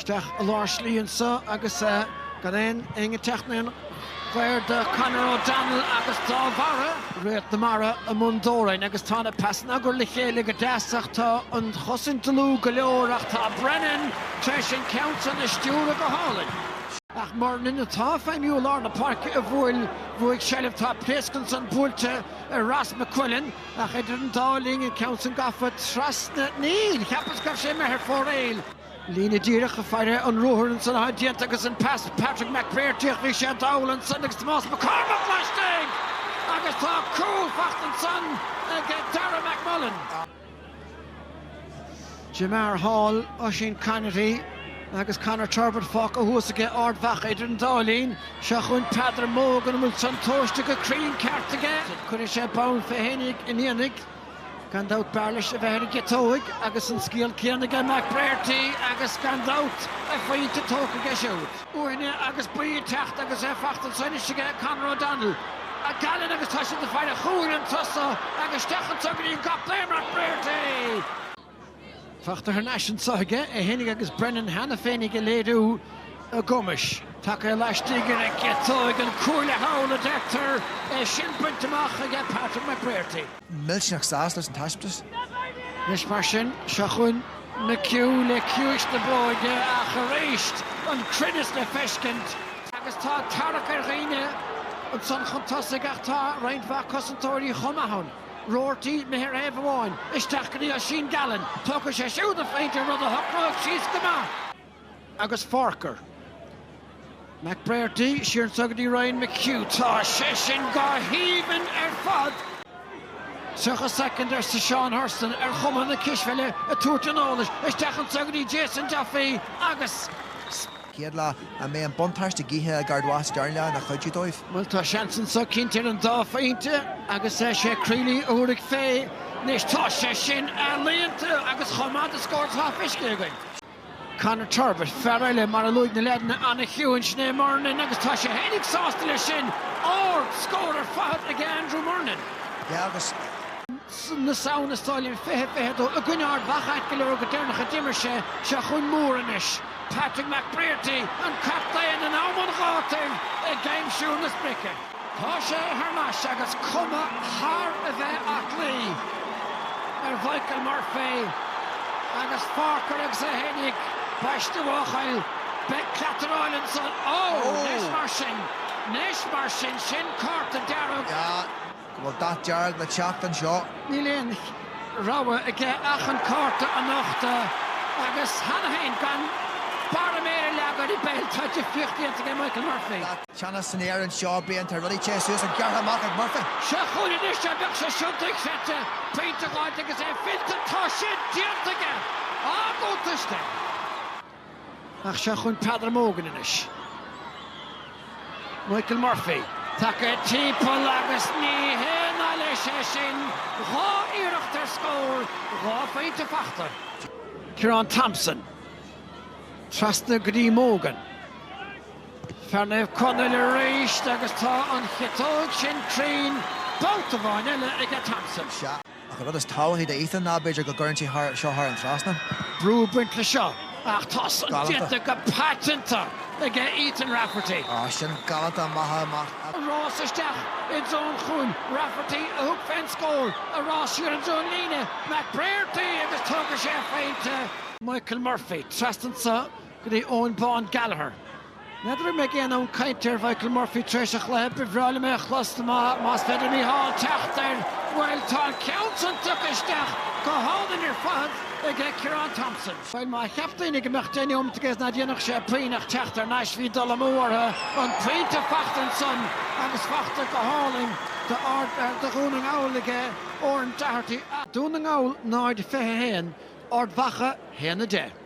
isteach i lár slí anseo agus gan aon éinne teacht ina chomhair do Conor O'Donnell agus dá bharr. Réalt na mara i mbun ordáin agus tá na peasanna á gcur le chéile go deas ach tá an chosaint dlúth go leor ach tá Brennan tar éis an ceann san a stiúradh go hálainn. Ach Murnin atá feidhmiú i lár na páirce a bhuail bhuaigh seilbh tá pléasc ansan buailte ag Ross McQuillan. Ach idir an dá linn, an ceann san gafa trasna? Níl! Cheapas go raibh sé imithe thar fóiril. Líne díreach ag faire, an ruathar ansan atá déanta agus an pas Patrick McBrearty ach bhí sé ag dul ansan agus Tomás Mac Cormaic laistigh! Agus tá cúl faighte ansan ag Darragh McMullen. Fé mar atá Oisín Conaty agus Conor Turbitt fágtha thuas aige Ard Mhacha idir an dá linn, seo chugainn Peadar Mogan an bhfuil san tomhaiste go cruinn ceart aige? Cuirfidh sé bonn fé fhéinig inné gan dabht, b'fhearr leis a bheith ar an gciotóig agus an scil chéanna aige Mac Brearty agus gan dabht a phointe tógtha aige siúd. uaidh agus bhí ag teacht agus é fachta ansan istigh ag Conor O'Donnell. Gallen agus tá siad ag faire ar chúl anso agus isteach ansan go dtí an captaen, McBrearty! Fachta thar n-ais anso aige é fhéinig agus Brennan cheana féinig ag léiriú a gcumais. Taca é laistigh ar a gciotóig an cuaille thall a deirtear, é sin bainte amach aige Patrick McBrearty. millteanach sásta leis an taispeántas. Anois mar sin, seo chugainn McHugh le ciumhais na bróige ach arís an cruinneas le feiscint agus tá tarrac ar dhaoine ansan chun tosaigh ach tá roinnt mhaith cosantóirí chomh maith ann. Roarty, mhuthar taobh amháin, isteach go dtí Oisín Gallen. Tógfaidh sé siúd an pointe rud a shocróidh síos go maith. agus Forker. McBrearty siar anseo go dtí Ryan McHugh. Tá sé sin go haoibhinn ar fad! 30 soicind, arsa Seán Hurson, ar chuma na cispheile ag tabhairt an eolais. Isteach anseo go dtí Jason Duffy agus. chéad leath. An mbeidh an buntáiste gaoithe ag Ard Mhacha sa dara leath ina chuidiú dóibh? Bhuel, tá seans anseo cinnte ar an dá phointe agus is é Crealey a thabharfaidh fé. Anois, tá sé sin ealaíonta agus chomh maith de scór is atá feicthe againn. Conor Turbitt, fear eile, mar a luaigh na leaideanna, an-chiúin, sin é Murnin, agus tá sé féinig sásta leis sin, an scór fachta aige Andrew Murnin. Sea, agus. na Samhna sa bhliain 20, 22, i gcoinne Ard Mhacha, ait go leor, go deireanach a d'imir sé, seo chugainn Moore anois, Patrick McBrearty, an captaen in am an ghátair ag aimsiú na sprice. Tá sé thar n-ais agus cuma thar a bheith aclaí ar Mhichael Murphy agus Forker agus é fhéin i mbéal a chéile. Beidh cleataráil ansan. Ó! Anois mar sin. Anois mar sin. Sin cárta dearg. Bhuel tá dearg le teacht anseo. Níl aon rogha aige ach an cárta a nochtadh agus cheana fhéin gan barra méire leagtha ar pheil. Tá difríocht déanta ag Michael Murphy. Cheana san Éirinn seo bíonn, tá rudaí téite suas ann gearrtha amach ag Murphy. Seo chugainn anois é, bheadh sé iontach a chéad phointe a dh'fháilt agus é fillte, tá sin déanta aige! Ardiontas de. Ach seo chugainn Peadar Mogan anois. Michael Murphy, tagtha timpeall agus ní haon áibhéil é sin, dhá iarracht ar scór, dhá phointe fachta. Ciarán Thompson, trasna go dtí Mogan. Fear Naomh Conaill arís agus tá an chiotóg sin cruinn babhta amháin eile aige Thompson. Sea, ach an rud is tábhachtaí d'Ethan ná b'fhéidir go gcuireann sé seo thar an trasnán. brú ag baint leis seo ach tá san déanta go paiteanta ag Ethan Rafferty. Á, sin galánta amach is amach. Rás isteach i dtreo an chúil. Rafferty a thug fén scór, a rás siar i dtreo an líne, McBrearty agus tógfaidh sé a phointe. Michael Murphy trasna ansan. Go dtí Eoghan Bán Gallagher. N'fheadar an mbeidh aon fhonn cainte ar Mhichael Murphy tar éis an chluiche. Ba bhreá liom é a chlos más féidir le Micheál teacht air. Bhuel tá an ceann san tugtha isteach go hálainn ar fad ag Ciarán Thompson. Bhuel má cheap daoine go mbeadh deich nóimeat aige is nach ndéanfadh sé puinn ach teacht thar n-ais bhí dul amú orthu. An pointe fachta ansan agus fachta go hálainn do Dhún na nGall ag Oran Doherty. Dún na nGall 0, 21, Ard Mhacha 1, 10.